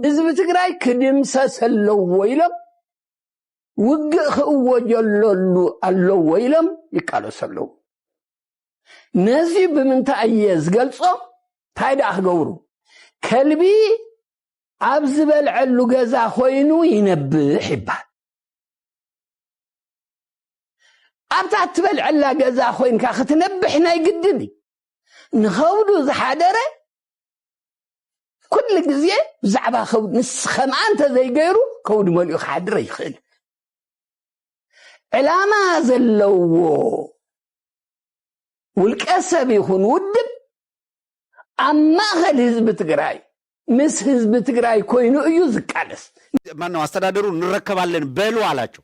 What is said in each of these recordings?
ህዝቢ ትግራይ ክድምሰስ ኣለዎ ኢሎም ውግእ ክእወጀለሉ ኣለዎ ኢሎም ይቃለሱ ኣለዉ ነዚ ብምንታይ እየ ዝገልጾ እንታይ ደኣ ክገብሩ ከልቢ ኣብ ዝበልዐሉ ገዛ ኮይኑ ይነብሕ ይበሃል ኣብታ እትበልዐላ ገዛ ኮይንካ ክትነብሕ ናይ ግድን እዩ ንኸብዱ ዝሓደረ ኩሉ ግዜ ብዛዕባ ከብዱ ንስ ከምኣ እንተዘይገይሩ ከብዱ መሊኡ ክሓድር ኣይኽእል ዕላማ ዘለዎ ውልቀ ሰብ ይኹን ውድብ ኣብ ማእኸል ህዝቢ ትግራይ ምስ ህዝቢ ትግራይ ኮይኑ እዩ ዝቃለስ። ማነው አስተዳደሩ እንረከባለን በሉ አላቸው።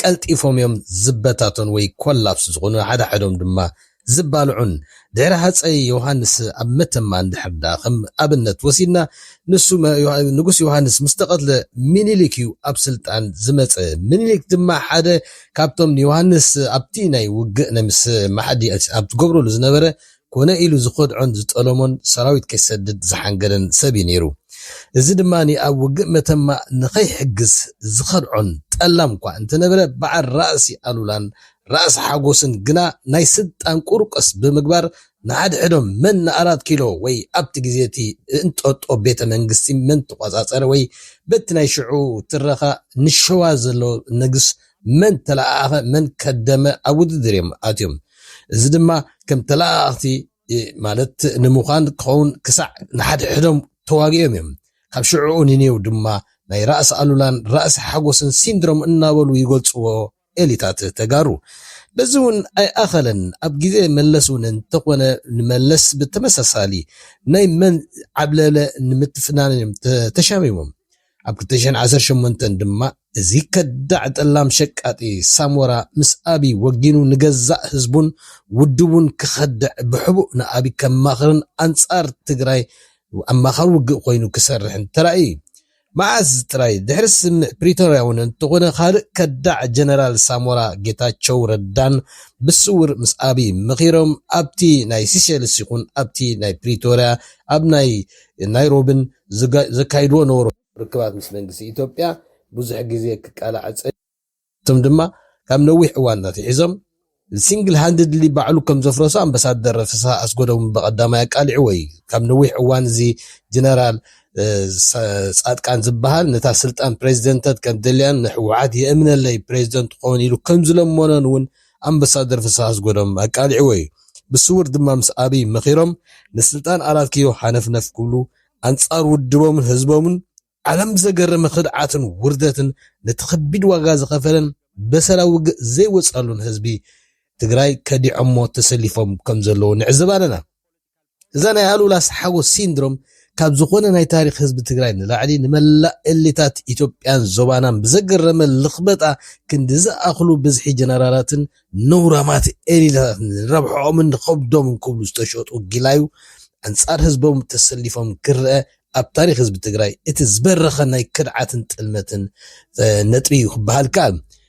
ቀልጢፎም እዮም ዝበታተኑ ወይ ኮላፕስ ዝኹኑ ሓድሓዶም ድማ ዝባልዑን። ድሕሪ ሃጸይ ዮውሃንስ ኣብ መተማ እንድሕር ደኣ ከም ኣብነት ወሲድና ንሱ ንጉስ ዮውሃንስ ምስ ተቐትለ ሚኒሊክ እዩ ኣብ ስልጣን ዝመጸ። ሚኒሊክ ድማ ሓደ ካብቶም ንዮውሃንስ ኣብቲ ናይ ውግእነ ምስ ማሓዲ ኣብ ዝገብረሉ ዝነበረ ኮነ ኢሉ ዝኸድዖን ዝጠለሞን ሰራዊት ከይሰድድ ዝሓንገደን ሰብ እዩ ነይሩ። እዚ ድማ ኣብ ውግእ መተማ ንኸይሕግዝ ዝኸድዖን ጠላም እኳ እንተነበረ በዓል ራእሲ ኣሉላን ራእሲ ሓጎስን ግና ናይ ስልጣን ቁርቆስ ብምግባር ንሓድሕዶም መን ንኣራት ኪሎ ወይ ኣብቲ ግዜ'ቲ እንጦጦ ቤተ መንግስቲ መን ተቖጻጸረ ወይ በቲ ናይ ሽዑ ትረኻ ንሸዋ ዘሎ ንግስ መን ተለኣኣኸ መን ከደመ ኣብ ውድድር እዮም ኣትዮም። እዚ ድማ ከም ተለኣኣኽቲ ማለት ንምዃን ክኸውን ክሳዕ ንሓድሕዶም ተዋጊኦም እዮም። ካብ ሽዕኡ ንኔው ድማ ናይ ራእሲ ኣሉላን ራእሲ ሓጎስን ሲንድሮም እናበሉ ይገልጽዎ ኤሊታት ተጋሩ። በዚ እውን ኣይኣኸለን ኣብ ግዜ መለስ እውን እንተኾነ ንመለስ ብተመሳሳሊ ናይ መን ዓብለለ ንምትፍናን እዮም ተሻሚሞም። ኣብ ክልተ ሽሕን ዓሰርተ ሸሞንተን ድማ እዚ ከዳዕ ጠላም ሸቃጢ ሳሞራ ምስ ኣብይ ወጊኑ ንገዛእ ህዝቡን ውድቡን ክኸድዕ ብሕቡእ ንኣብይ ከማኽርን ኣንፃር ትግራይ ኣማኻሪ ውግእ ኮይኑ ክሰርሕን ተራእዩ እዩ። መዓዝ ጥራይ ድሕሪ ስምምዕ ፕሪቶርያ እውን እንተኾነ ካልእ ከዳዕ ጀነራል ሳሞራ ጌታቸው ረዳን ብስውር ምስ ኣብይ መኺሮም ኣብቲ ናይ ሲሸልስ ይኹን ኣብቲ ናይ ፕሪቶርያ ኣብ ናይ ናይሮብን ዘካይድዎ ነበሩ። ርክባት ምስ መንግስቲ ኢትዮጵያ ብዙሕ ግዜ ክቃላዕ ጸኒሑ። ንሳቶም ድማ ካብ ነዊሕ እዋን ኣትሒዞም ሲንግል ሃንድድሊ ባዕሉ ከም ዘፍረሶ ኣምበሳደር ፍስሃ ኣስጎዶም ብቐዳማይ ኣቃሊዕዎ እዩ። ካብ ነዊሕ እዋን እዚ ጀነራል ጻድቃን ዝበሃል ነታ ስልጣን ፕረዚደንተት ከም ደልያን ንህወሓት የእምነለይ ፕረዚደንት ክኸውን ኢሉ ከም ዝለመኖን እውን ኣምበሳደር ፍስሃ ኣስጎዶም ኣቃሊዕዎ እዩ። ብስዉር ድማ ምስ ኣብይ መኺሮም ንስልጣን ኣራት ኪሎ ሃነፍነፍ ክብሉ ኣንጻር ውድቦምን ህዝቦምን ዓለም ብዘገረመ ክድዓትን ውርደትን ነቲ ከቢድ ዋጋ ዝኸፈለን በሰላ ውግእ ዘይወጻሉን ህዝቢ ትግራይ ከዲዖሞ ተሰሊፎም ከምዘለዉ ንዕዘብ ኣለና። እዛ ናይ ኣሉላ ሓጎስ ሲንድሮም ካብ ዝኾነ ናይ ታሪኽ ህዝቢ ትግራይ ንላዕሊ ንመላእ ኤሊታት ኢትዮጵያን ዞባናን ብዘገረመ ልኽበጣ ክንዲ ዝኣኽሉ ብዝሒ ጀነራላትን ነውራማት ኤሊታትን ንረብሐኦምን ንኸብዶምን ክብሉ ዝተሸጡ ጊላዩ ኣንጻር ህዝቦም ተሰሊፎም ክረኣ ኣብ ታሪኽ ህዝቢ ትግራይ እቲ ዝበረኸ ናይ ክድዓትን ጥልመትን ነጥቢ እዩ ክበሃል ይከኣል።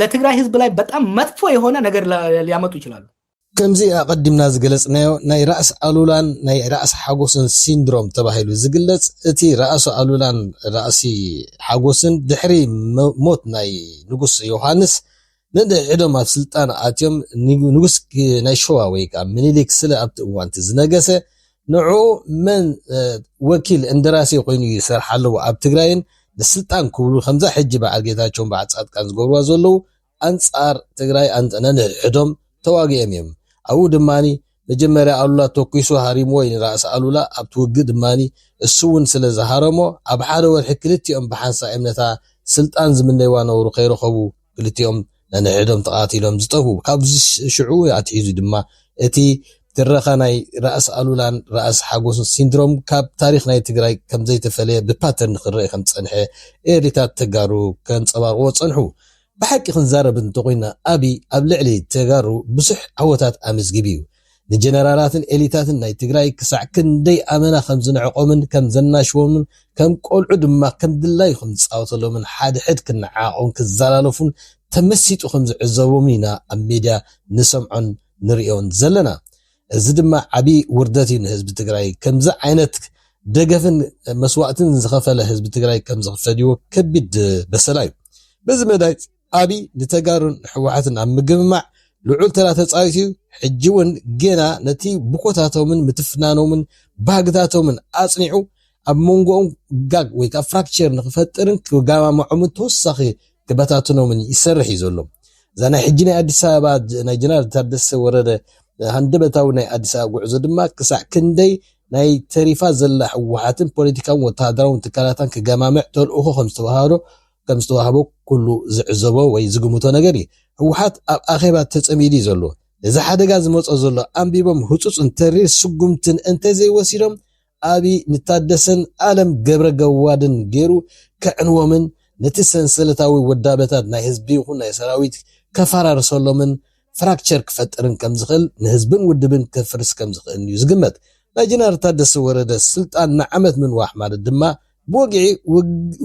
ለትግራይ ህዝብ ላይ በጣም መጥፎ የሆነ ነገር ሊያመጡ ይችላሉ። ከምዚ ኣቐዲምና ዝገለጽናዮ ናይ ራእሲ ኣሉላን ናይ ራእሲ ሓጎስን ሲንድሮም ተባሂሉ ዝግለጽ እቲ ራእሲ ኣሉላን ራእሲ ሓጎስን ድሕሪ ሞት ናይ ንጉስ ዮውሃንስ ነንሕድሕዶም ኣብ ስልጣን ኣትዮም ንጉስ ናይ ሸዋ ወይ ከኣ ምኒልክ ስለ ኣብቲ እዋንቲ ዝነገሰ ንዑ መን ወኪል እንደራሴ ኮይኑ እዩ ዝሰርሕ ኣለዎ ኣብ ትግራይን ንስልጣን ክብሉ ከምዛ ሕጂ በዓል ጌታቸውን በዓል ፃድቃን ዝገብርዋ ዘለዉ ኣንፃር ትግራይ ነንሕድሕዶም ተዋጊኦም እዮም ኣብኡ ድማ መጀመርያ ኣሉላ ተኩሱ ሃሪምዎ እዩ ንራእሲ ኣሉላ ኣብቲ ውግእ ድማ እሱ እውን ስለ ዝሃረሞ ኣብ ሓደ ወርሒ ክልቲኦም ብሓንሳእ እዮም ነታ ስልጣን ዝምነይዋ ነውሩ ከይረኸቡ ክልቲኦም ነንሕድሕዶም ተቓቲሎም ዝጠፍኡ። ካብ ሽዑ ኣትሒዙ ድማ እቲ ትረኻ ናይ ራእሲ ኣሉላን ራእሲ ሓጎስን ሲንድሮም ካብ ታሪኽ ናይ ትግራይ ከምዘይተፈለየ ብፓተርን ክረኣ ከምዝጸንሐ ኤሊታት ተጋሩ ከንጸባርቕዎ ዝጸንሑ። ብሓቂ ክንዛረብ እንተኾይና ኣብይ ኣብ ልዕሊ ተጋሩ ብዙሕ ዓወታት ኣመዝጊቡ እዩ። ንጀነራላትን ኤሊታትን ናይ ትግራይ ክሳዕ ክንደይ ኣመና ከም ዝንዕቆምን ከም ዘናሽዎምን ከም ቆልዑ ድማ ከም ድላዩ ከም ዝጻወተሎምን ሓድሕድ ክነዓዓቁን ክዘላለፉን ተመሲጡ ከም ዝዕዘቦምን ኢና ኣብ ሜድያ ንሰምዖን ንርእዮን ዘለና። እዚ ድማ ዓቢ ውርደት እዩ ንህዝቢ ትግራይ። ከምዚ ዓይነት ደገፍን መስዋእትን ዝኸፈለ ህዝቢ ትግራይ ከም ዝኽፈድዎ ከቢድ በሰላ እዩ። በዚ መዳይ ኣብይ ንተጋሩን ንሕወሓትን ኣብ ምግምማዕ ልዑል ተራ ተፃዊቱ ዩ፣ ሕጂ ውን ጌና ነቲ ብኮታቶምን ምትፍናኖምን ባህግታቶምን ኣፅኒዑ ኣብ ሞንጎኦም ጋግ ወይ ከዓ ፍራክቸር ንክፈጥርን ክጋማምዖምን ተወሳኺ ክበታትኖምን ይሰርሕ ዩ ዘሎ። እዛ ናይ ሕጂ ናይ ኣዲስ ኣበባ ናይ ጀነራል ታደሰ ወረደ ሃንደበታዊ ናይ ኣዲስ ኣበባ ጉዕዞ ድማ ክሳዕ ክንደይ ናይ ተሪፋ ዘላ ህወሓትን ፖለቲካውን ወተሃደራውን ትካላታን ክገማምዕ ተልእኾ ከምዝተወሃቦ ከም ዝተዋህቦ ኩሉ ዝዕዘቦ ወይ ዝግምቶ ነገር እዩ። ህወሓት ኣብ ኣኼባ ተፀሚዱ እዩ ዘሎ። ነዚ ሓደጋ ዝመፆ ዘሎ ኣንቢቦም ህፁፅን ተሪር ስጉምትን እንተዘይወሲዶም ኣብይ ንታደሰን ኣለም ገብረገዋድን ገይሩ ከዕንዎምን ነቲ ሰንሰለታዊ ውዳበታት ናይ ህዝቢ ይኹን ናይ ሰራዊት ከፈራርሰሎምን ፍራክቸር ክፈጥርን ከምዝኽእል ንህዝብን ውድብን ከፍርስ ከምዝኽእልን እዩ ዝግመት። ናይ ጅነራል ታደሰ ወረደ ስልጣን ንዓመት ምንዋሕ ማለት ድማ ብወግዒ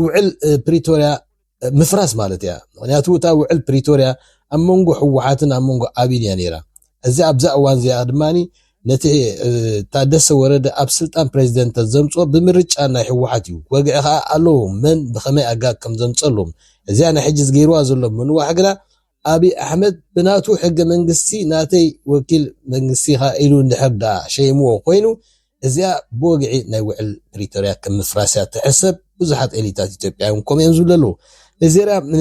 ውዕል ፕሪቶርያ ምፍራስ ማለት እያ። ምክንያቱ እታ ውዕል ፕሪቶርያ ኣብ መንጎ ህወሓትን ኣብ መንጎ ኣብይን እያ ነይራ። እዚ ኣብዛ እዋን እዚኣ ድማ ነቲ ታደሰ ወረደ ኣብ ስልጣን ፕሬዚደንት ዘምፅኦ ብምርጫ ናይ ህወሓት እዩ። ወግዒ ከዓ ኣለዎ መን ብኸመይ ኣጋ ከም ዘምፀሎም እዚኣ ናይ ሕጂ ዝገይርዋ ዘሎ ምንዋሕ ግና ኣብይ ኣሕመድ ብናቱ ሕገ መንግስቲ ናተይ ወኪል መንግስቲ ኢኻ ኢሉ እንድሕር ድኣ ሸይምዎ ኮይኑ እዚኣ ብወግዒ ናይ ውዕል ፕሪቶርያ ከም ምፍራስ እያ ትሕሰብ ብዙሓት ኤሊታት ኢትዮጵያ እውን ከምኡ እዮም ዝብሉ ኣለው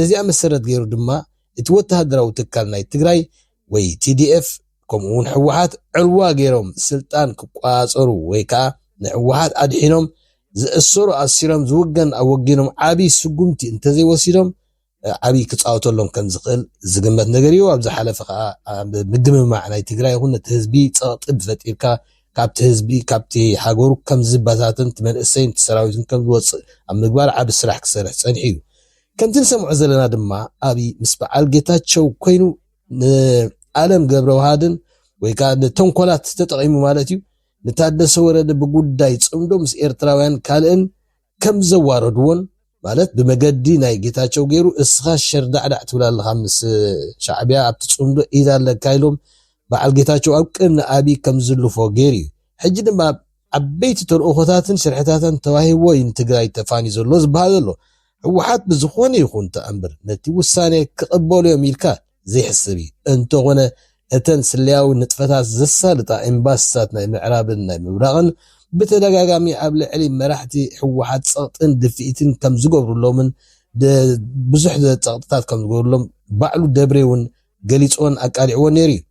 ነዚኣ መሰረት ገይሩ ድማ እቲ ወተሃደራዊ ትካል ናይ ትግራይ ወይ tdf ከምኡ እውን ህወሓት ዕልዋ ገይሮም ስልጣን ክቆፃፀሩ ወይ ከዓ ንህወሓት ኣድሒኖም ዝእሰሩ ኣሲሮም ዝውገን ኣወጊኖም ዓብይ ስጉምቲ እንተዘይወሲዶም ዓቢ ክጻወተሎም ከም ዝኽእል ዝግመት ነገር እዩ። ኣብ ዝሓለፈ ከኣ ኣብ ምግምማዕ ናይ ትግራይ ይኹን ነቲ ህዝቢ ጸቕጢ ብፈጢርካ ካብቲ ህዝቢ ካብቲ ሃገሩ ከም ዝበታተን እቲ መንእሰይን እቲ ሰራዊትን ከም ዝወጽእ ኣብ ምግባር ዓቢ ስራሕ ክሰርሕ ጸኒሑ እዩ። ከምቲ ንሰምዖ ዘለና ድማ ኣብይ ምስ በዓል ጌታቸው ኮይኑ ንኣለም ገብረውሃድን ወይ ከዓ ንተንኮላት ተጠቒሙ ማለት እዩ ንታደሰ ወረደ ብጉዳይ ጽምዶ ምስ ኤርትራውያን ካልእን ከም ዘዋረድዎን ማለት ብመገዲ ናይ ጌታቸው ጌሩ እስኻ ሸርዳዕዳዕ ትብል ኣለኻ ምስ ሻዕቢያ ኣብቲ ፅምዶ ኢድ ኣለካ ኢሎም በዓል ጌታቸው ኣብ ቅድሚ ኣብይ ከም ዝዝልፎ ጌሩ እዩ ሕጂ ድማ ኣብ ዓበይቲ ተልእኾታትን ሽርሕታታን ተዋሂብዎ እዩ ንትግራይ ተፋንዩ ዘሎ ዝበሃል ዘሎ ህወሓት ብዝኾነ ይኹን ተኣምር ነቲ ውሳኔ ክቕበሉ እዮም ኢልካ ዘይሕሰብ እዩ። እንተኾነ እተን ስለያዊ ንጥፈታት ዘሳልጣ ኤምባሲታት ናይ ምዕራብን ናይ ምብራቕን ብተደጋጋሚ ኣብ ልዕሊ መራሕቲ ህወሓት ጸቕጥን ድፍኢትን ከም ዝገብሩሎምን ብዙሕ ጸቕጥታት ከም ዝገብሩሎም ባዕሉ ደብሬ እውን ገሊጽዎን ኣቃሊዕዎን ነይሩ እዩ።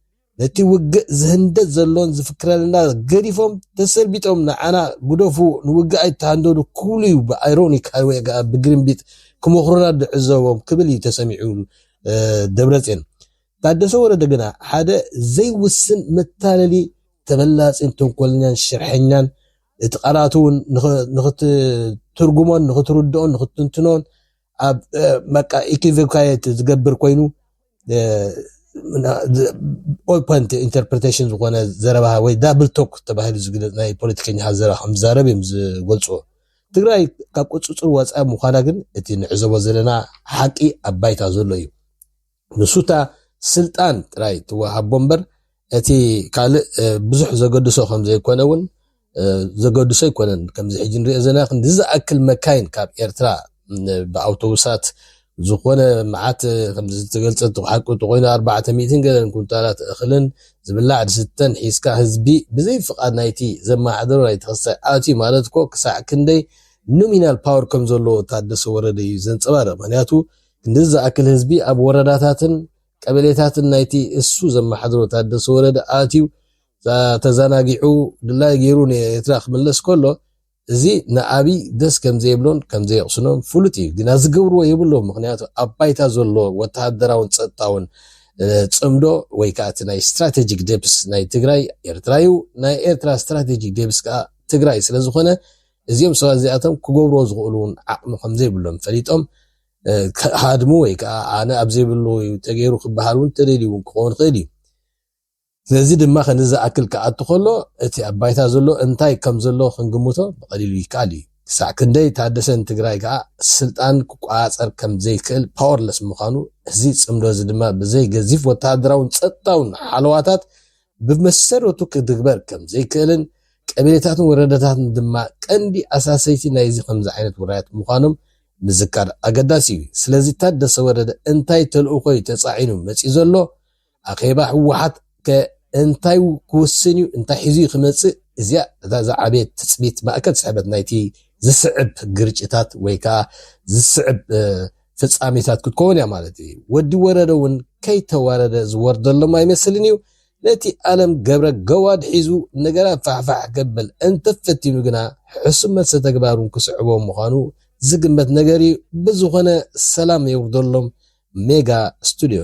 ነቲ ውግእ ዝህንደድ ዘሎን ዝፍክረልና ገዲፎም ተሰልቢጦም ንዓና ግደፉ ንውግእ ኣይትሃንደዱ ክብሉ ዩ ብኣይሮኒክ ሃይወይ ከኣ ብግርምቢጥ ክመኽሩና ንዕዘቦም ክብል ዩ ተሰሚዑ ደብረጼን። ታደሰ ወረደ ግና ሓደ ዘይውስን መታለሊ ተበላጺን ተንኮለኛን ሽርሐኛን እቲ ቃላቱ ውን ንኽትትርጉሞን ንኽትርድኦን ንኽትትንትኖን ኣብ በቃ ኢኪቨካየት ዝገብር ኮይኑ ኦልፖንት ኢንተርፕሬቴሽን ዝኾነ ዘረባ ወይ ዳብል ቶክ ተባሂሉ ዝግለፅ ናይ ፖለቲከኛታት ዘረባ ከም ዝዛረብ እዮም ዝገልፅዎ ትግራይ ካብ ቁፅፅር ወፃኢ ምዃና ግን እቲ ንዕዘቦ ዘለና ሓቂ ኣብ ባይታ ዘሎ እዩ ንሱታ ስልጣን ጥራይ ትወሃቦ እምበር እቲ ካልእ ብዙሕ ዘገድሶ ከምዘይኮነ እውን ዘገድሶ ኣይኮነን። ከምዚ ሕጂ ንሪኦ ዘለና ክንዲ ዝኣክል መካይን ካብ ኤርትራ ብኣውቶቡሳት ዝኾነ መዓት ከምዚ ዝተገልጸ ሓቂ እንተኾይኑ ኣርባዕተ ሚእትን ገለን ኩንታላት እኽልን ዝብላዕ ዝስተን ሒዝካ ህዝቢ ብዘይ ፍቓድ ናይቲ ዘመሓደሮ ናይ ተኸስታይ ኣትዩ ማለት እኮ ክሳዕ ክንደይ ኖሚናል ፓወር ከም ዘለዎ ታደሰ ወረደ እዩ ዘንጸባርቕ። ምክንያቱ ክንዲ ዝኣክል ህዝቢ ኣብ ወረዳታትን ቀበሌታትን ናይቲ እሱ ዘማሓድሮ ታደሰ ወረደ ኣትዩ ተዛናጊዑ ድላዩ ገይሩ ንኤትራ ክምለስ ከሎ እዚ ንኣብይ ደስ ከምዘይብሎን ከምዘየቅስኖን ፍሉጥ እዩ ግና ዝገብርዎ የብሎም ምክንያቱ ኣብ ባይታ ዘሎ ወታሃደራውን ፀጥታውን ፅምዶ ወይ ከዓ እቲ ናይ ስትራቴጂክ ዴፕስ ናይ ትግራይ ኤርትራ እዩ ናይ ኤርትራ ስትራቴጂክ ዴፕስ ከዓ ትግራይ ስለዝኾነ እዚኦም ሰባት እዚኣቶም ክገብርዎ ዝኽእሉ እውን ዓቅሚ ከምዘይብሎም ፈሊጦም ክሃድሙ ወይ ከኣ ኣነ ኣብ ዘይብሉ እዩ ተገይሩ ክበሃል እውን ተደልዩ እውን ክኸውን ይኽእል እዩ። ነዚ ድማ ክንዲ ዝኣክል ክኣቱ ከሎ እቲ ኣብ ባይታ ዘሎ እንታይ ከም ዘሎ ክንግምቶ ብቐሊሉ ይከኣል እዩ። ክሳዕ ክንደይ ታደሰ ንትግራይ ከኣ ስልጣን ክቆጻጸር ከም ዘይክእል፣ powerless፣ ምዃኑ እዚ ጽምዶ እዚ ድማ ብዘይ ገዚፍ ወተሃደራውን ጸጥታውን ሓለዋታት ብመሰረቱ ክትግበር ከም ዘይክእልን ቀቢሌታትን ወረዳታትን ድማ ቀንዲ ኣሳሰይቲ ናይዚ ከምዚ ዓይነት ውራያት ምዃኖም ምዝካር ኣገዳሲ እዩ። ስለዚ ታደሰ ወረደ እንታይ ተልእኾ እዩ ተፃዒኑ መፂኡ ዘሎ? ኣኼባ ህወሓት ከ እንታይ ክውስን እዩ? እንታይ ሒዙ እዩ ክመፅእ? እዚኣ እታ ዝዓበየት ትፅቢት ማእከል ስሕበት ናይቲ ዝስዕብ ግርጭታት ወይ ከዓ ዝስዕብ ፍፃሜታት ክትከውን እያ ማለት እዩ። ወዲ ወረደ እውን ከይተዋረደ ዝወርደሎም ኣይመስልን እዩ። ነቲ ኣለም ገብረ ገዋድ ሒዙ ነገራት ፋሕፋሕ ከብል እንተፈቲኑ ግና ሕሱም መልሰ ተግባሩ ክስዕቦ ምዃኑ ዝግመት ነገር'ዩ ብዝኾነ ሰላም የውርደሎም ሜጋ ስቱድዮ።